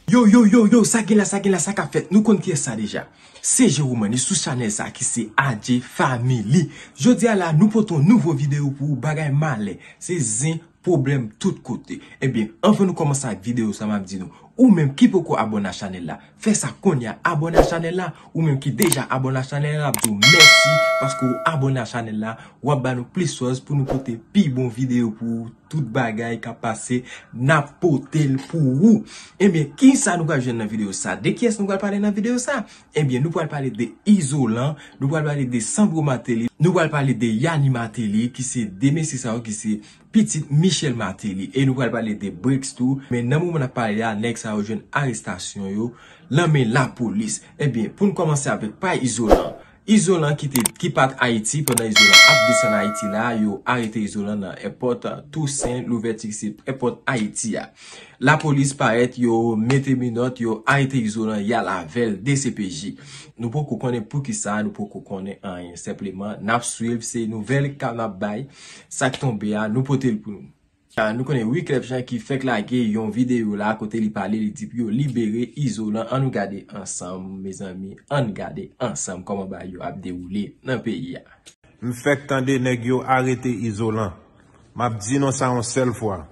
Yo yo yo yo sa gen la sa gen la sa kap fèt nou konn kiyès sa deja Se Jerome e sou chanèl sa ki se AJ family Jodi a la nou pote yon nouvo videyo pou ou bagay malè se zen pwoblèm tout kote Ebyen anvan nou kòmanse ak videyo sa map di nou ou menm ki poko abone ak chanèl la Fè sa kounya abone a chanel la ou menm ki deja abone a chanel la ap diw mèsi paske ou abone a chanel la wap ba nou plis fòs pou nou pote pi bon video pou ou tout bagay kap pase nap potel pou ou ebyen kisa nou pral jwenn nan video sa de kiyès nou pral pale nan video sa ebyen nou pral pale de izolan nou pral pale de sandro mateli nou pral pale de yani mateli ki se de mesye sa yo ki se pitit Michel Martelly e nou pral pale de Bricks tou men nan moman nap pale a nèg sa yo jwenn arestasyon yo lan men lapolis ebyen poun kòmanse avèk pa Izolan Izolan ki te ki pat Ayiti pandan Izolan ap desann Ayiti la yo arete Izolan nan èpòt Tousen Louvèti ki se èpòt Ayiti a lapolis parèt yo mete minòt yo arete Izolan yal avèl dcpj nou poko konnen poukisa nou poko konnen anyen senpleman nap swiv se nouvèl ka nap bay. Sa k tonbe a, nou pote l pou nou. Nou konnen Wyclef Jean ki fèk lage yon videyo la kote li pale li di pou yo libere Izolan an nou gade ansanm mezanmi ann gade ansanm kòman bagay yo ap dewoule nan peyi a. M fèk tande nèg yo arete Izolan m ap di nou sa yon sèl fwa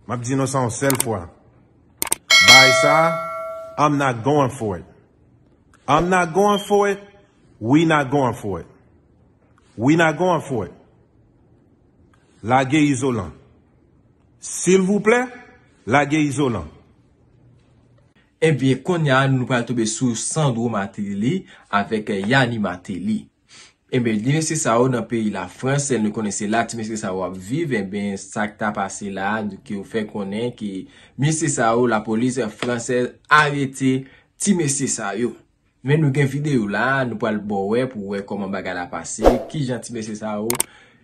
m ap di nou sa yon sèl fwa bagay sa a I'm not going for it. I'm not going for it, We not going for it, We not going for it Lage izolan Silvouplè, lage izolan. Ebyen konnya nou pral tonbe sou Sandro Martelly avèk Yanni Martelly. Enben ti mesye sa yo nan peyi la frans nou konnen se la ti mesye sa yo ap viv enben sak ta pase la ke yo fè konnen ke mesye sa yo la polis fransèz arete ti mesye sa yo men nou gen video la nou pral bo wè pou wè koman bagay la pase ki jan ti mesye sa yo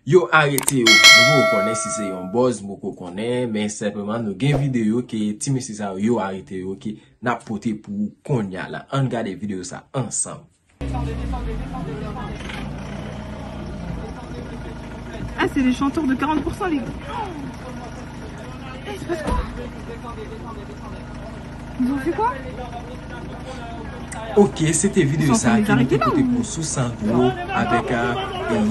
yo arete yo nou poko konnen si se yon boz nou poko konnen men senpleman nou gen video ke ti mesye sa yo yo arete yo ke nap pote pou kounya la ann gade video sa ansanm. Ok se te video sa ki nou te pote pou sou sandro avek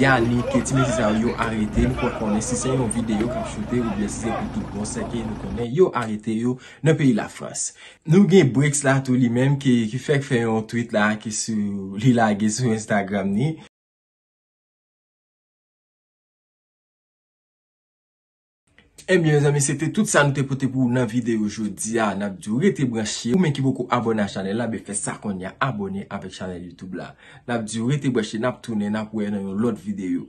yanik ti mesye sa yo arete nou pa konnen si se yon video kap choute ou byen si se pou tout bon sè ke nou konnen yo arete yo nan peyi la frans Nou gen Bricks la tou li menm ki fèk fè yon tweet la ki li lage sou Instagram ni. Ebyen mezanmi se te tout sa nou te pote pou ou nan videyo jodi a. N ap di ou rete branche. Ou menm ki poko abòne a chanèl la, ben fè sa kounye a abòne avèk chanèl YouTube la. N ap di ou rete branche, n ap tounen, n ap wè nan yon lòt videyo.